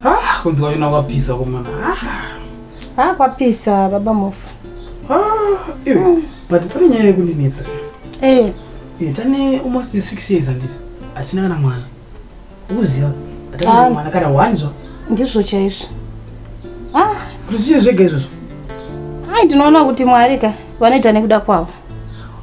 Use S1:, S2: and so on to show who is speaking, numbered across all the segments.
S1: Ah, kunzi kwavina kwapisa kumona. Ah. ah, kwapisa
S2: baba Mofu. Ah, iwe. Mm.
S1: But pane nyaya yekundinetsa. Eh.
S2: Eh, tane almost 6
S1: years anditi. Asina kana mwana. Uziva. Atana ah. mwana kana one zva. Ndizvo chaizvo.
S2: Ah,
S1: kuti zvega izvozvo. Ai, tinoona
S2: kuti Mwari ka vanoita nekuda kwavo.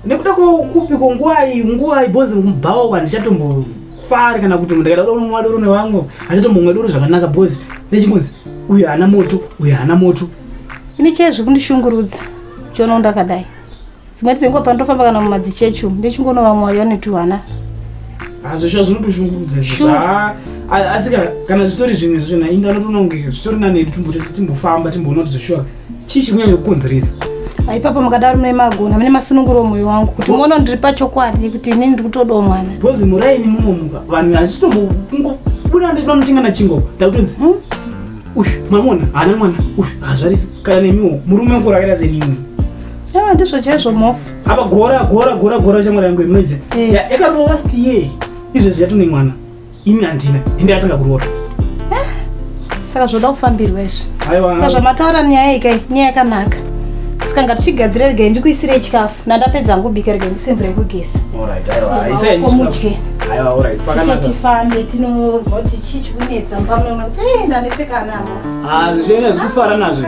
S2: nekuda
S1: kwokupi kwonguwai nguwai bhozi mubhawa handichatombofari kana kuti ndikaita kuda unomwa doro nevamwe handichatombomwa doro zvakanaka bhozi nechingonzi uyu haana moto uyu haana moto ini chee zviri
S2: kundishungurudza chono ndakadai dzimwe dzenguva pandofamba kana mumadzichechi umu ndichingonova mwoyo netuhwana hazvisva
S1: zvinotoshungurudza izvozva asi kana zvitori zvimwe zvozvona inga anotononge zvitori nanedu timbotese timbofamba timboona kuti zveshuwa chii chikunyanya kukonzeresa aipapa mukadaro
S2: mune magona mune masununguro mwoyo wangu kuti muona ndiri pachokwadi kuti inini ndiri kutodawo mwana bhozi muraini munomuka
S1: vanhu hachitombobuda ndinoda mutinga nachingo takutonzi hmm? uyu mamona haana mwana uyu hazvarisi kana nemiwo murume wako rakaita senimwe yaa ndizvo
S2: chaizvo mhofu apa gora gora
S1: gora gora chamwari yangu inoizi eh. yakarova last year izvezvi yatone mwana Ini handina, ndine atanga kuroora. Eh?
S2: Saka zvoda kufambirwa izvi. Aiwa. Saka zvamataura nyaya ika, nyaya yakanaka. Saka ngatichigadzire rega ndikuisire chikafu. Nandapedza hangu bika rega ndisimbire kugesa. Alright, aiwa. Isa ini. Komudye. Aiwa, alright. Pakanaka. Tifambe tinonzwa kuti chii chikunetsa pamwe kuti eh ndanetseka ana. Ah, zvichena zvikufara
S1: nazvo.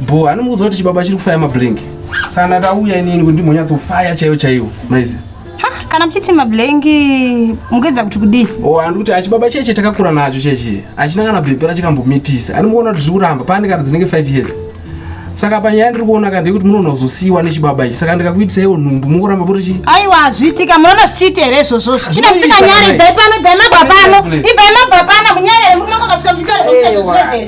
S2: Bho, ani mukuziva kuti
S3: chibaba chiri kufaya mablink. Sana tauya inini kuti ndimbonyatsofaya chaiyo chaiyo. Maizi. Ha, kana mchiti
S2: mablink mugedza kuti kudii? Oh, ani kuti achibaba cheche
S3: takakura nacho cheche. Achina kana bhebhera chikambomitisa. Ani mukuona kuti zvikuramba pane kana dzinenge 5 years. Saka panyaya ndiri kuona kandei kuti munoona kuzosiiwa nechibaba ichi. Saka ndikakuitisa iwo nhumbu mukuramba kuti chi. Aiwa hazviitika
S2: munoona zvichiita here izvozvo. Chine msika nyari ibvai pano ibvai mabva pano. Ibvai mabva pano munyari murume kwakasvika mchitaura zvekuita zvekuita.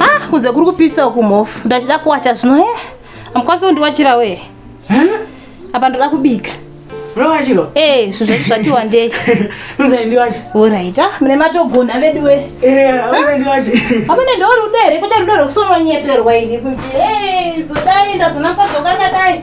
S2: Ah, kunze kuri kupisa uku mhofu ndachida kuwacha zvino he eh? amukwanisa kundiwachira were apa ndoda kubika Unowachiro?
S1: Eh, zvozvo zvati
S2: wandei. Unzai ndiwacho.
S1: Alright. Ah,
S2: mune matogona vedu we. Eh, unzai ndiwacho.
S1: Apa ne ndoro
S2: udere kuta ndoro kusonwa nyeperwa ini kunzi. Eh, zodai ndazonakadzoka kadai.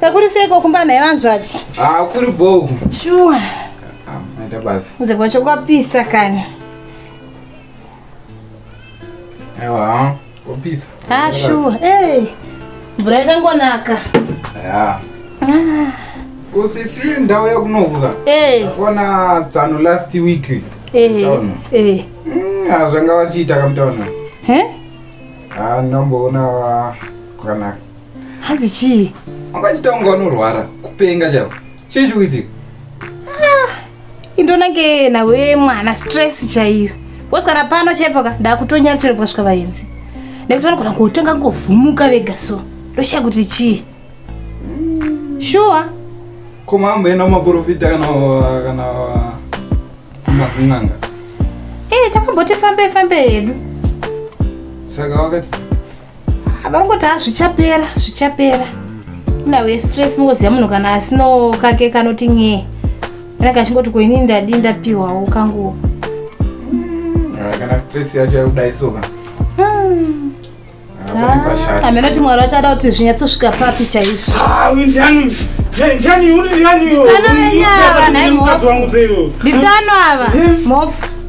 S2: Kakuri seiko kumba naye vanzvadzi? Ah, kuri bho.
S4: Shuwa.
S2: Ah, maita
S4: basa. Kunze kwacho kwapisa
S2: kani.
S4: Aiwa. Wapisa. Ah, sure.
S2: Hey. Mvura yakangonaka. Yeah. Ah.
S4: Usisiri ndau yakunovuka. Hey. Eh. Ona tsano last week. Eh. Hey. Town. Eh. Hey. Mm, ah, zvanga vachiita kamutaona. He? Ah, ndomboona kwakanaka. hanzi
S2: chii wakaita kunge
S4: wanorwara kupenga chavo chii chikuitika
S2: ah, indonange
S4: nawe
S2: mwana stress chaiyo wose kana pano chaipo ka ndakutonyara chero pakasvika vaenzi nekuti vanogona kutanga ngovhumuka vega so ndoshaya kuti chii shuwa
S5: ko mambo ena maprofita kana kana makun'anga ee eh, takamboti
S2: fambei fambei hedu
S5: saka wakati
S2: Varongoti ha ah, zvichapera zvichapera inawe stress mungoziva munhu kana asinawo kake kanoti nyee anenge achingoti ko ini ndadi ndapiwawo kanguwo hmm,
S5: ah, kana stress yacho yakudayi soka
S2: hmm. ah, hameno ti mwari vachada kuti zvinyatsosvika papi chaizvo nditsanwa ava mhofu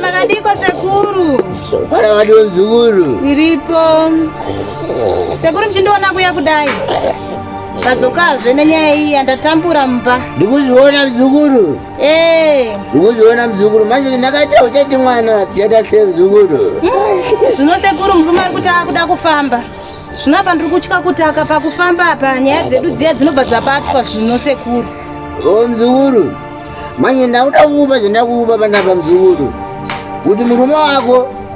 S5: Makadiko
S2: sekuru. Fara wadi
S6: wenzukuru. Tiripo.
S2: Sekuru mchindiona kuya kudai. Tadzokazve nenyaya iyi yandatambura mumba. Ndikuziona mzukuru.
S6: Eh. ukuziona mzukuru manje ndakaita uchati mwana tichaita se mzukuru zvino
S2: sekuru murume ari kuti akuda kufamba zvino apa ndiri kutya kuti akapa kufamba apa nyaya dzedu dziya dzinobva dzabatwa zvino sekuru o mzukuru
S6: manje ndakuda kuupa zvandakuupa panapa mzukuru kuti murume wako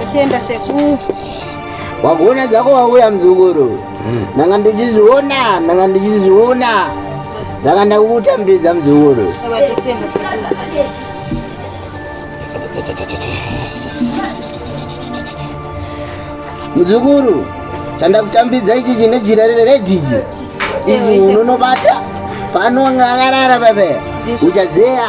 S2: Kutenda sekuru. Wakuona
S6: dzako wauya mzukuru. Ndanga ndichiziona, ndanga ndichiziona. Saka ndakukutambidza mzukuru. Kutenda
S2: sekuru.
S6: Mzukuru, chandakutambidza ichi chine jira reredhiji. Ichi unonobata pano ngakarara baba. Uchazeya.